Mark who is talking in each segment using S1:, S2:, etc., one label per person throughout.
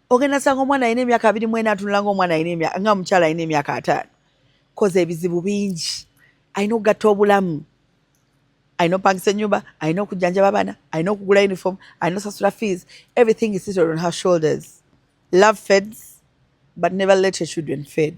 S1: ogenda sanga omwana alina emyaka abiri mu ena atunula ngaomwana nga omukyala alina emyaka ataano koza ebizibu bingi alina okugatta obulamu alina opangisa enyumba alina okujjanjaba abaana alina okugula uniform alina osasula fees everything is sitted on her shoulders love feds but never let your children fed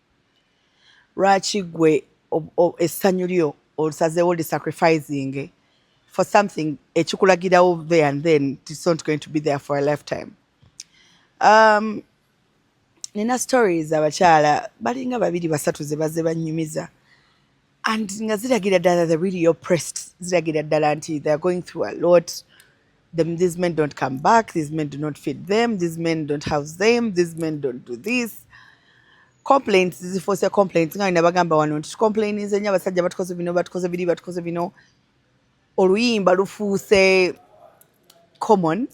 S1: lwaki gwe essanyu lyo olusazeewo li sacrificing for something ekikulagirawo there and then it's not going to be there for a lifetime um, nina stories abakyala balinga babiri basatu zebaze banyumiza and nga ziragira ddala the really oppressed ziragira ddala nti they are going through a lot them, these men don't come back these men do not feed them these men don't house them these men don't do this complaints zifosa complaints nga nabagamba wano nti tukomplainize nyo abasajja batukoze bino batukoze biri batukoze bino oluyimba lufuuse common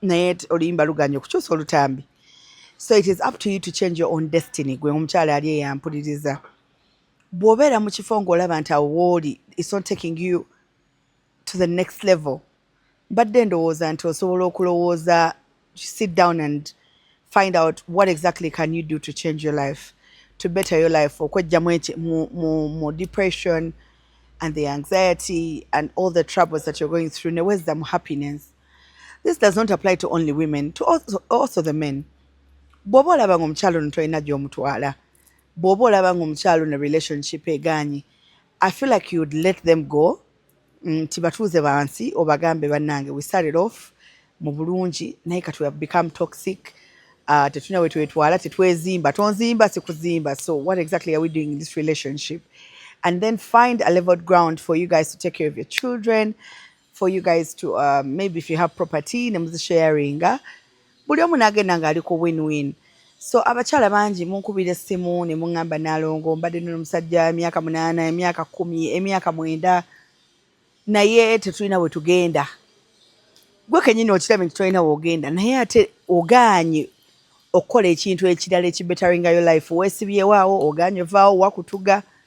S1: naye oluyimba luganye okukyusa olutambi so it is up to you to change your own destiny gwe omukyala ali eyampuliriza bw'obeera mu kifo ng'olaba nti awo wooli it's not taking you to the next level mbadde ndowooza nti osobola okulowooza sit down and find out what exactly can you do to change your life to better your life okwejjamu mu depression and the anxiety and all the troubles that you're going through newezza mu happiness this does not apply to only women to also, also the men bw'oba olaba nga omukyalo ono tolina gy'omutwala bwoba olaba nga omukyalo ne relationship eganyi i feel like you'd let them go nti batuuze bansi obagambe banange we started off mu bulungi naye kati we have become toxic uh, tetulina wetwetwala tetwezimba tonzimba sikuzimba so what exactly are we doing in this relationship and then find a leveled ground for you guys to take care of your children for you guys to uh, maybe if you have property ne muzisharinga buli omu nagenda ng'ali ku win win so abakyala bangi munkubira essimu ne muŋŋamba nalongo mbadde nno omusajja emyaka munaana emyaka kumi emyaka mwenda naye tetulina we tugenda gwe kenyini okiraba nti tolina wogenda naye ate ogaanye okukola ekintu ekirala ekibetaringayo life wesibyewaawo ogaanye ovaawo wakutuga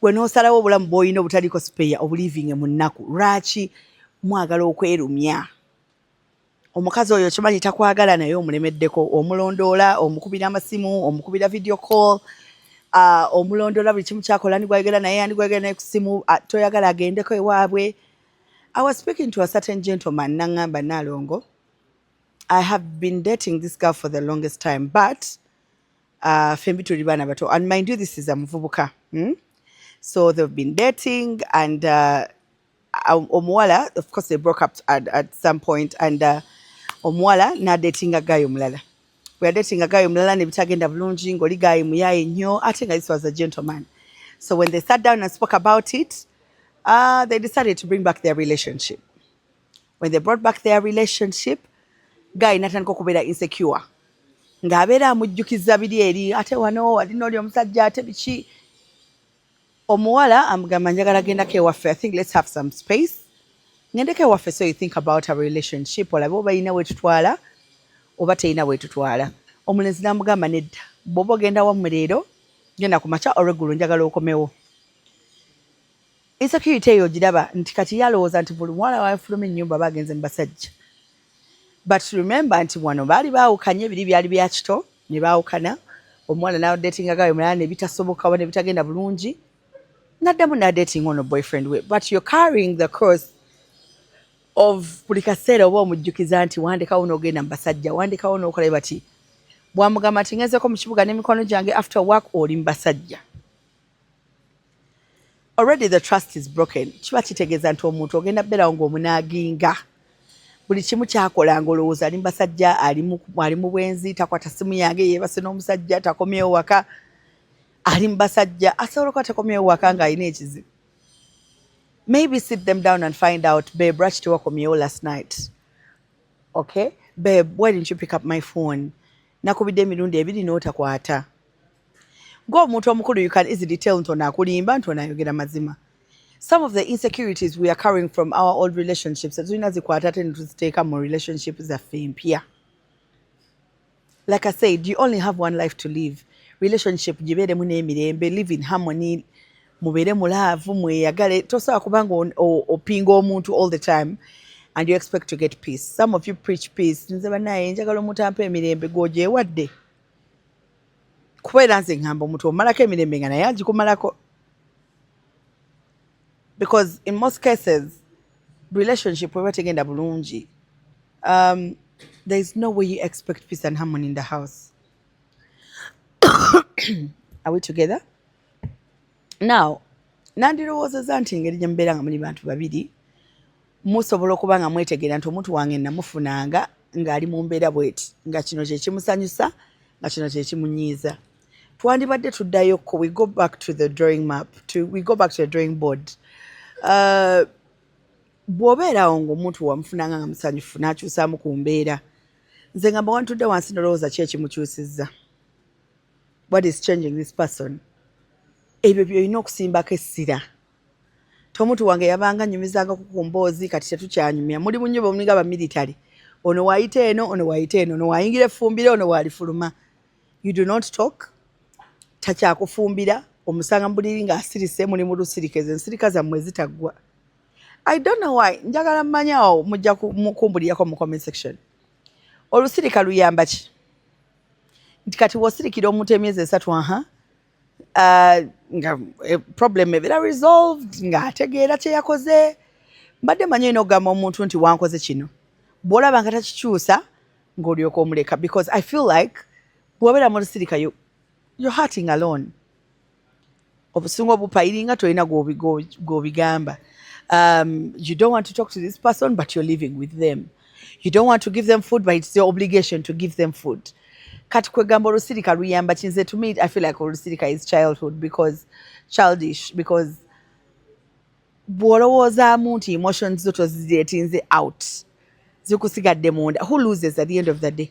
S1: gwe n'osalawo obulamu bw'olina obutaliiko sipeeya obuliivinge mu nnaku lwaki mwagala okwerumya omukazi oyo okimanyi takwagala naye omulemeddeko omulondoola omukubira amasimu omukubira video call uh, omulondoola buli kimu kyakola ndigwayogera naye andigwayogera naye ku simu uh, toyagala agendeko ewaabwe i was speaking to a certain gentleman nangamba nalongo i have been dating this girl for the longest time but uh, fembi tuli baana bato and mind you this is a muvubuka hmm? so they've been dating and uh, um, omuwala of course they broke up at, at some point and uh, omuwala nadatinga gayo omulala weyadatinga gayo omulala nebitagenda bulungi ngaoli gayi muyaye nnyo ate nga this was a gentleman so when they sat down and spoke about it uh, they decided to bring back their relationship when they brought back their relationship guy natandika okubeera insecure ng'abeera amujjukiza biri eri ate wano ali nooli omusajja ate biki omuwala amugamba njagala gendako ewaffe i think let's have some space ngendeko ewaffe so you think about our relationship olabe oba yina wetutwala oba teyina wetutwala omulenzi namugamba nedda bwoba ogenda wammwe leero genda ku makya olweggulo njagala okomewo Insecurity eyo ogiraba nti kati yalowooza nti buli muwala wafuluma ennyumba aba agenze mu basajja. But remember nti wano baali baawukanye biri byali bya kito ne baawukana omuwala n'adeetinga gawe mulala ne bitasoboka oba ne bitagenda bulungi n'addamu n'adeetinga ono boyfriend we but you're carrying the cross of buli kaseera oba omujjukiza nti wandekawo n'ogenda mu basajja wandekawo n'okola bati bwamugamba nti ngezeeko mu kibuga n'emikwano gyange after work oli mu basajja already the trust is broken kiba kitegeeza nti omuntu ogenda berawo ngaomunaaginga buli kimu kyakola nga olowooza ali mubasajja ali mu bwenzi takwata simu yange yebase n'omusajja takomyewo waka ali mubasajja asobola okuba takomyewo waka nga alina ekizibu maybe sit them down and find out babe lwaki tewakomyewo last night okay babe why didn't you pick up my phone nakubidde emirundi ebiri n'otakwata ng'omuntu omukulu you can easily tell nti ono akulimba nti ono ayogera mazima some of the insecurities we are carrying from our old relationships tulina zikwata ate netuziteeka mu relationship zaffe mpya like i said you only have one life to live relationship gibeeremu n'emirembe live in harmony mubeere mu laavu mweyagale tosobola kubanga opinga omuntu all the time and you expect to get peace some of you preach peace nze banaye njagala omuntu ampa emirembe gwogyewadde kuba era nze ngamba omuntu omalako emirembe nga naye agikumalako because in most cases relationship weba tegenda bulungi um, there is no way you expect peace and harmony in the house are we together now nandirowoozeza nti engeri gye mubeera nga muli bantu babiri musobola okuba nga mwetegeera nti omuntu wange namufunanga ng'ali mu mbeera bweti nga kino kyekimusanyusa nga kino kyekimunyiiza twandibadde tuddayo ko we go back to the drawing map to, we go back to the drawing board uh, bw'obeerawo ng'omuntu wamufunanga nga musanyufu n'akyusaamu ku mbeera nze nga mbawantudde wansi nolowooza ki ekimukyusizza what is changing this person ebyo byolina okusimbako essira tomutu wange yabanga nyumizanga kukumboozi kati tetukyanyumya muli bunyo bomulinga bamilitary ono wayita eno ono wayita eno ono wayingira efumbire ono walifuluma you do not talk takyakufumbira omusanga mubuliri nga asirise muli mulusirika ezo ensirika zammwe zitaggwa i don't know why njagala mmanyawo mujja kumbulirirako mu comment section olusirika luyamba ki nti kati wosirikira omuntu emyezi esatu aha uh, nga eh, problem ebeera resolved nga ategeera kyeyakoze mbadde manyi olina okugamba omuntu nti wankoze kino bwolaba nga takikyusa ngaolyoka omuleka because i feel like bwobeera mulusirika you, you're hurting alone obusungu obupa iringa tolina gwobigamba um, you don't want to talk to this person but you're living with them you don't want to give them food but it's your obligation to give them food kati kwegamba olusirika luyamba kinze to me i feel like olusirika is childhood because childish because bwolowoozaamu nti emotions zo toziretinze out zikusigadde munda who loses at the end of the day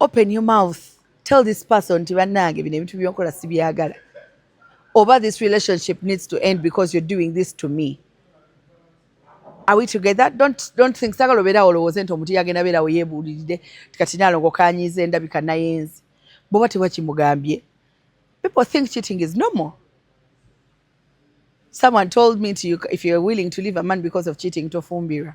S1: open your mouth tell this person nti bannange bino ebintu byonkola sibyagala oba this relationship needs to end because you're doing this to me are we together don't, don't think sagala obeerawo olowooze nti omuntu yagenda beerawo yebuulirire tikati nalongo kanyiiza endabika nayenzi bwoba teba kimugambye people think cheating is normal someone told me to you, if you're willing to leave a man because of cheating tofumbirwa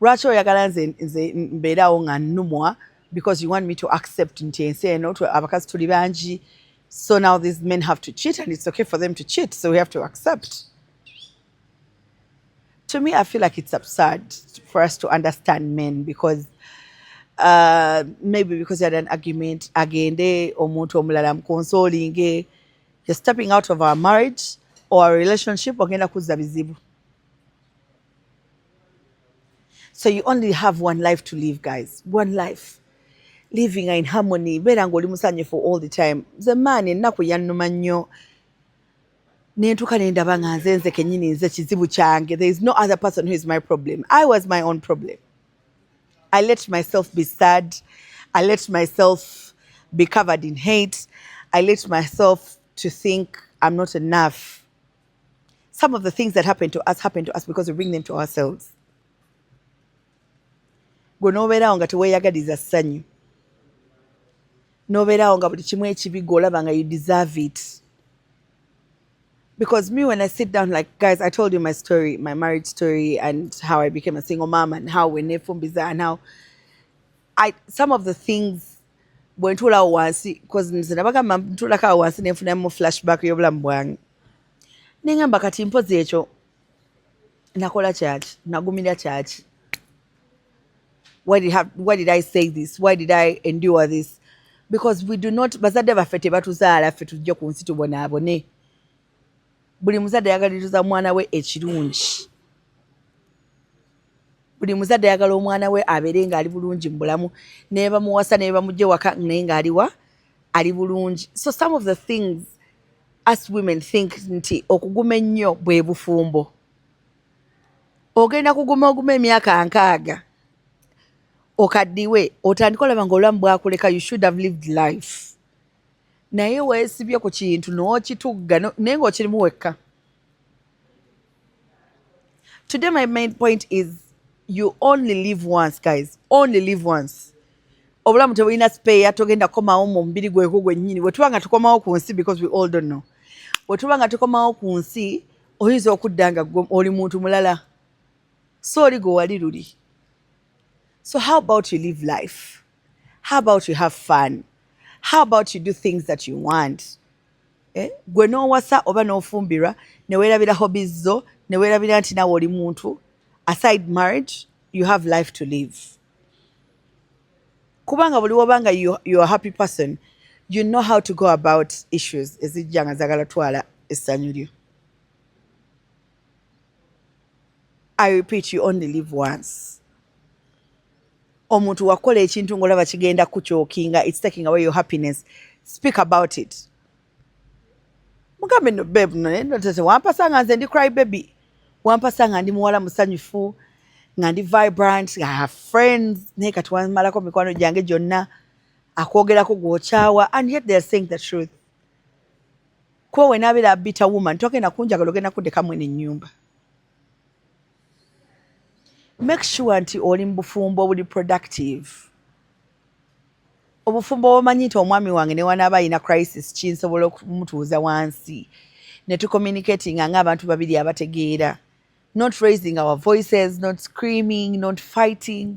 S1: lwaki oyagala nze nze mbeerawo nga nnumwa because you want me to accept nti ensi eno abakazi tuli bangi so now these men have to cheat and it's okay for them to cheat so we have to accept to me i feel like it's absurd for us to understand men because uh, maybe because had an argument agende omuntu omulala mukonsolinge you're stepping out of our marriage or our relationship ogenda kuzza bizibu so you only have one life to live guys one life living in harmony beera nga oli musanyufu all the time nze maani ennaku yannuma nnyo nentuka nendaba nga nze nze kenyini nze kizibu kyange there is no other person who is my problem i was my own problem i let myself be sad i let myself be covered in hate i let myself to think i'm not enough Some of the things that happen to us happen to us because we bring them to ourselves. Gwe n'obeerawo nga teweeyagaliza ssanyu. N'obeerawo nga buli kimu ekibi gw'olaba nga you deserve it. Because me when I sit down like guys I told you my story, my marriage story and how I became a single mom and how we nefumbiza and how I some of the things bwe ntuulawo wansi because nze nabagamba ntuulako awo wansi ne nfunamu flashback y'obulamu bwange. nengamba kati mpozi ekyo nakola kyaki nagumira kyaki why did, have, why did i say this why did i endure this because we do not bazadde baffe tebatuzaala ffe tujje ku nsi tubonaabone buli muzadde yagaliriza mwana we ekirungi buli muzadde ayagala omwana we abeere ng'ali bulungi mu bulamu nebamuwasa nebamugye waka naye ng'aliwa ali bulungi so some of the things us women think nti okuguma ennyo bwe bufumbo ogenda kuguma oguma emyaka nkaaga okaddiwe otandika olaba nga obulamu bwakuleka you should have lived life naye weesibye ku kintu n'okitugga naye ng'okirimu wekka Today my main point is you only live once guys, only live once. Obulamu tebulina spare, togenda komawo mu mubiri gwegwo gwennyini. Bwe tuba nga tukomawo ku nsi because we all don't know. Bwe tuba nga tukomawo ku nsi oyinza okudda nga oli muntu mulala so oli gwe wali luli. So how about you live life? How about you have fun? How about you do things that you want? Eh, gwe nowasa oba nofumbirwa newerabira hobbies zo newerabira nti nawe oli muntu aside marriage you have life to live kubanga buli wobanga you, you are happy person you know how to go about issues ezijja nga zagala twala essanyu lyo I repeat you only live once. Omuntu wakola ekintu ngolaba kigenda kuchokinga it's taking away your happiness. Speak about it. Mugambe no babe no ne no tese wampasa nga nze ndi cry baby. Wampasa nga ndi muwala musanyufu nga ndi vibrant nga have friends ne kati wamalako mikwano gyange gyonna akwogerako gwokyawa and yet they are saying the truth. Kuba when abera a bitter woman togenda kunjagala ogenda kudeka mwene nyumba. Make sure nti oli mubufumbo obuli productive. Obufumbo obumanyi nti omwami wange newanaaba alina crisis kinsobola okumutuuza wansi ne tucommunicating nga abantu babiri abategeera not raising our voices not screaming not fighting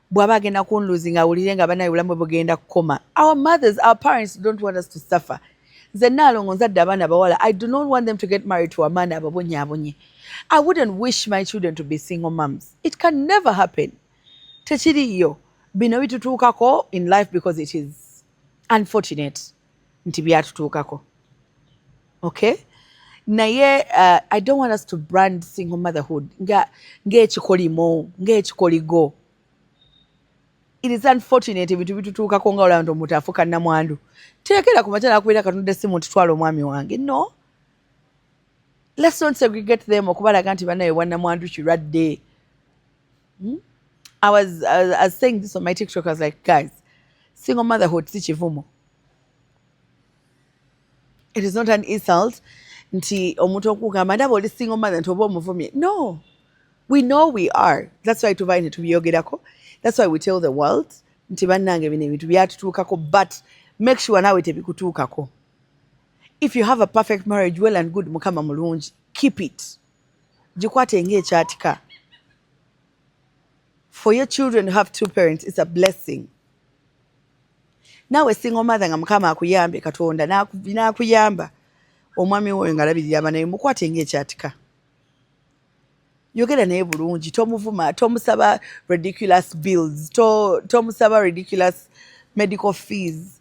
S1: bwaba agenda kunluzi nga awulire nga banaye bulamu bwebugenda kukoma our mothers our parents don't want us to suffer nze naalongo nzadde abaana bawala i do not want them to get married to amaana ababonyaabonye i wouldn't wish my children to be single mums it can never happen tekiriyo bino bitutuukako in life because it is unfortunate nti byatutuukako okay naye uh, i don't want us to brand single motherhood nga ngaekikolimo ngaekikoligo it is unfortunate ebintu bitutuukako nga olaba nti omuntu afuuka namwandu teekera ku makya nakubeera katonda esimu nti twala omwami wange no let's not segregate them okubalaga nti banaye bwanamwandu kirwadde Hmm? I was, I was, I was saying this on my TikTok. I was like, guys, single motherhood si chivumo. It is not an insult nti omuntu okugamba ndaba oli single mother nti oba omuvumye. No, we know we are. That's why tuvaine tubiyogerako. That's why we tell the world nti bannange bino ebintu byatutuukako but make sure naawe tebikutuukako. If you have a perfect marriage, well and good, mukama mulungi, keep it. Gikwate nga ekyatika. For your children to have two parents is a blessing. Nawe single mother nga mukama akuyambe katonda nakuyamba omwami woyo nga labirira abana be mukwate nga ekyatika. Yogera naye bulungi tomuvuma tomusaba ridiculous bills to tomusaba ridiculous medical fees.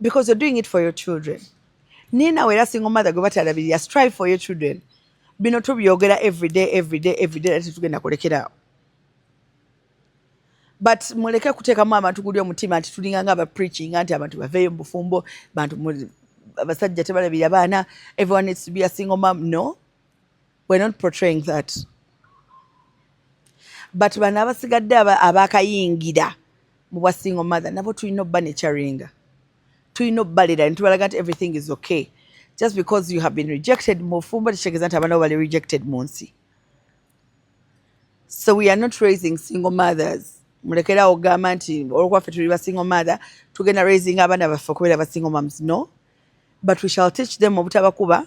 S1: because you're doing it for your children naye nawe era single mother gwe batalabirira strive for your children bino tubyogera everyday everyday everyday era tetugenda kulekeraawo but muleke kuteekamu abantu guli omutima nti tulinga nga abapreachinga nti abantu baveeyo mu bufumbo bantu abasajja tebalabirira baana everyone needs to be a single mom no We're not portraying that. But bano abasigadde abakayingira mu bwa single mother nabo tulina obba ne charinga. Tulina obbalira ntubalaga nti everything is okay. Just because you have been rejected mu fumbo tekitegeeza nti abana bali rejected mu nsi. So we are not raising single mothers. Mulekera ogamba nti olwokuba ffe tuli ba single mother tugenda raising abana baffe okubeera ba single moms. No. But we shall teach them obutabakuba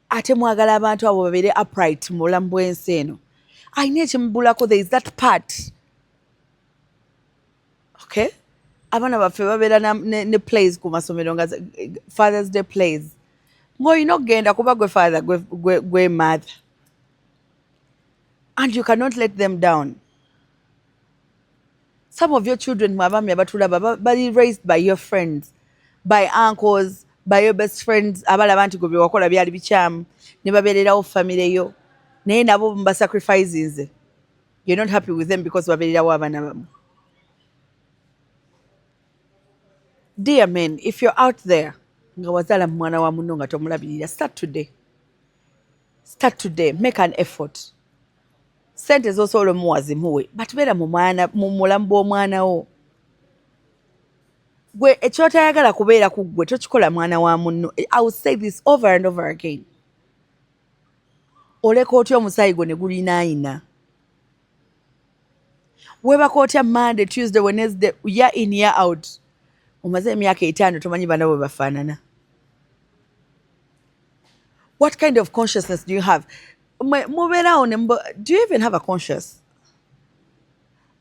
S1: ate mwagala abantu abo babeere upright mu bulamu bw'ensi eno alina ekimubulako there is that part okay abaana baffe babeera ne, ne plays ku masomero nga fathers day plays ng'olina okugenda kuba gwe father gwe, gwe, gwe mother and you cannot let them down some of your children mwe abaami abatulaba bali raised by your friends by uncles by your best friends abalaba nti gwe byewakola byali bikyamu ne babeererawo famire yo naye nabo mubasacrifisinze you're not happy with them because babeererawo abaana bamu dear men if you're out there nga wazaala mu mwana wa munno nga tomulabirira start today start today make an effort sente zosobola omuwa zimuwe but beera mu mulamu bw'omwana wo gwe ekyotayagala kubeera ku ggwe tokikola mwana wa munno i will say this over and over again oleka otya omusaayi gwo ne gulinaayina webaka otya monday tuesday wednesday ya in ya out omaze emyaka etaano tomanyi bana bwe bafaanana what kind of consciousness do you have mubeerawo ne do you even have a conscious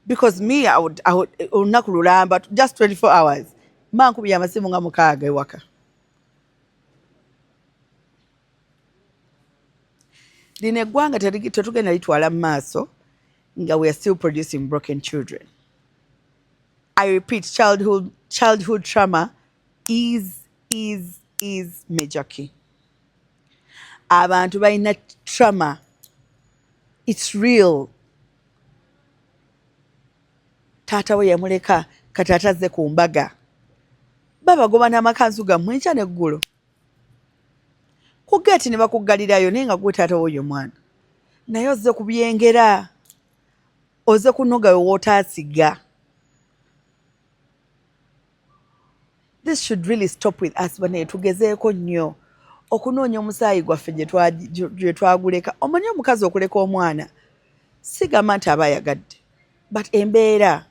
S1: because me I would, I would, olunaku lulamba just 24 hours mankubya amasimu nga mukaaga ewaka lino eggwanga tetugenda litwala mu maaso nga we are still producing broken children i repeat childhood, childhood trauma is is is major key abantu balina trauma its real taata we yamuleka kati atazze ku mbaga babagoba n'amakanzu gammwe enkya n'eggulo ku geeti ne bakuggalirayo naye nga gwe taata woyo mwana naye ozze ku byengera ozze kunogawe wootaasiga This should really stop with us bane tugezeeko nnyo okunoonya omusaayi gwaffe gye twaguleka omanyi omukazi okuleka omwana sigamba nti aba ayagadde but embeera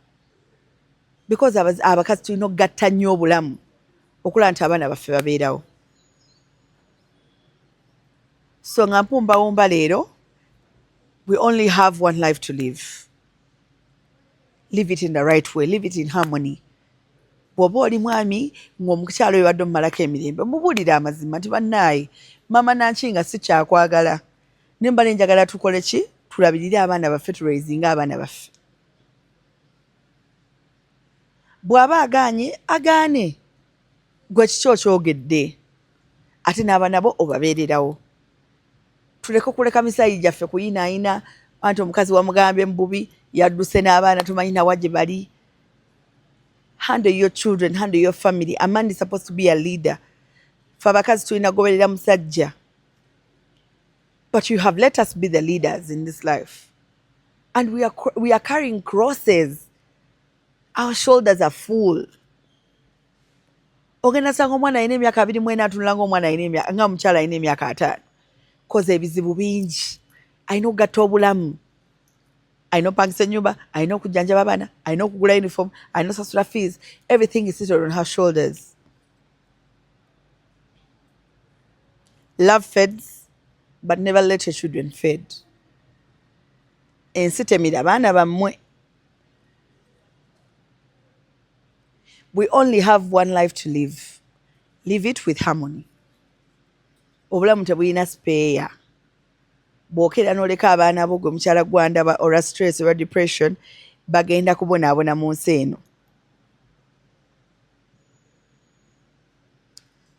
S1: because abakazi tulina okugatta nnyo obulamu okulaba nti abaana baffe babeerawo so nga mpumbawumba leero we only have one life to live live it in the right way live it in harmony bwoba oli mwami ngaomukyalo webadde omumalako emirembe mubuulire amazima nti bannaaye mama nanki nga sikyakwagala naye mbale njagala tukole ki tulabirire abaana baffe tulweizinga abaana baffe bw'aba agaanye agaane gwe kiki okyogedde ate n'abaana bo obabeererawo tuleke okuleka misaayi gyaffe kuyinaayina anti omukazi wamugambye mububi yadduse n'abaana tumanyi nawa gye bali handle your children handle your family a man is supposed to be a leader fe abakazi tulina kugoberera musajja but you have let us be the leaders in this life and we are, we are carrying crosses our shoulders are full ogenda sanga omwana alina emyaka abiri mwena atunula nga omwana nga omukyala alina emyaka ataano koza ebizibu bingi alina okugatta obulamu alina opangisa enyumba alina okujjanjaba abaana alina okugula uniform alina osasula fees everything is sitted on her shoulders love feds but never let your children fed ensi temira baana bammwe we only have one life to live live it with harmony obulamu tebulina speeya bwokera noleka abaana bo gwe mukyala gwandaba ora stress ora depression bagenda kubonaabona mu nsi eno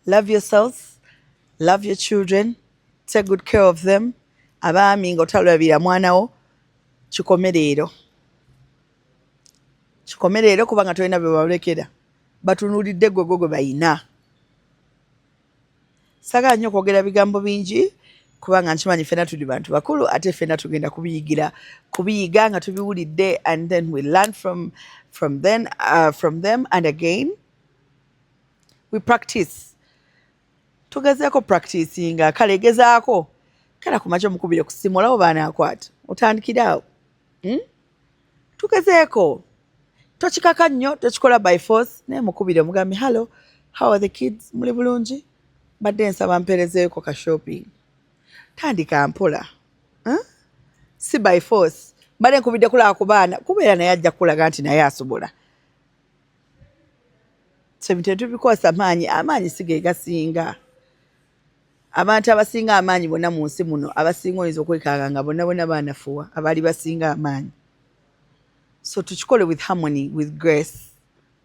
S1: love yourselves love your children take good care of them abaami nga otalabira mwanawo kikomereero kikome leero kubanga tolina bebalekera batunulidde gwe gwe gwe bayina sagala nnyo okwogera bigambo bingi kubanga nkimanyi fena tuli bantu bakulu ate fena tugenda kubiyigira kubiyiga nga tubiwulidde and then we learn from, from, then, uh, from them and again we practice tugezeeko practicinga kale gezaako kera kumakya omukubire kusimu olabo baanakwata otandikire awo hmm? tugezeeko tokikaka nnyo tokikola by force naye mukubire omugambi hallo how are the kids muli bulungi mbadde nsaba mperezeeko ka shopping tandika mpola huh? Hmm? si by force mbadde nkubidde kulaba ku baana kubeera naye ajja kukulaga nti naye asobola tetubikosa maanyi amaanyi si ge gasinga abantu abasinga amaanyi bonna mu nsi muno abasinga oyinza okwekanga nga bonna bonna baanafuwa abaali basinga amaanyi so tukikole with harmony with grace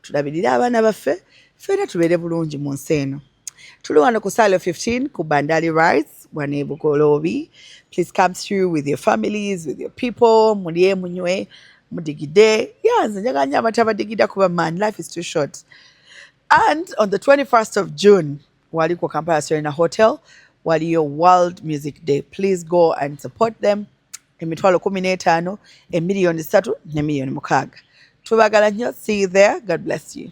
S1: tulabirire abaana baffe ffeera tubeere bulungi mu nsi eno Tuli wano ku Salo 15 ku Bandali Rice wano e Bugoloobi. Please come through with your families, with your people, mulye munywe mudigide. Yeah, nze njagala nnyo abantu abadigida kuba man life is too short. And on the 21st of June wali ku Kampala Serena Hotel waliyo World Music Day. Please go and support them. Emitwalo kumi n'etaano, emiliyoni ssatu ne miliyoni mukaaga. Tubagala nnyo. See you there. God bless you.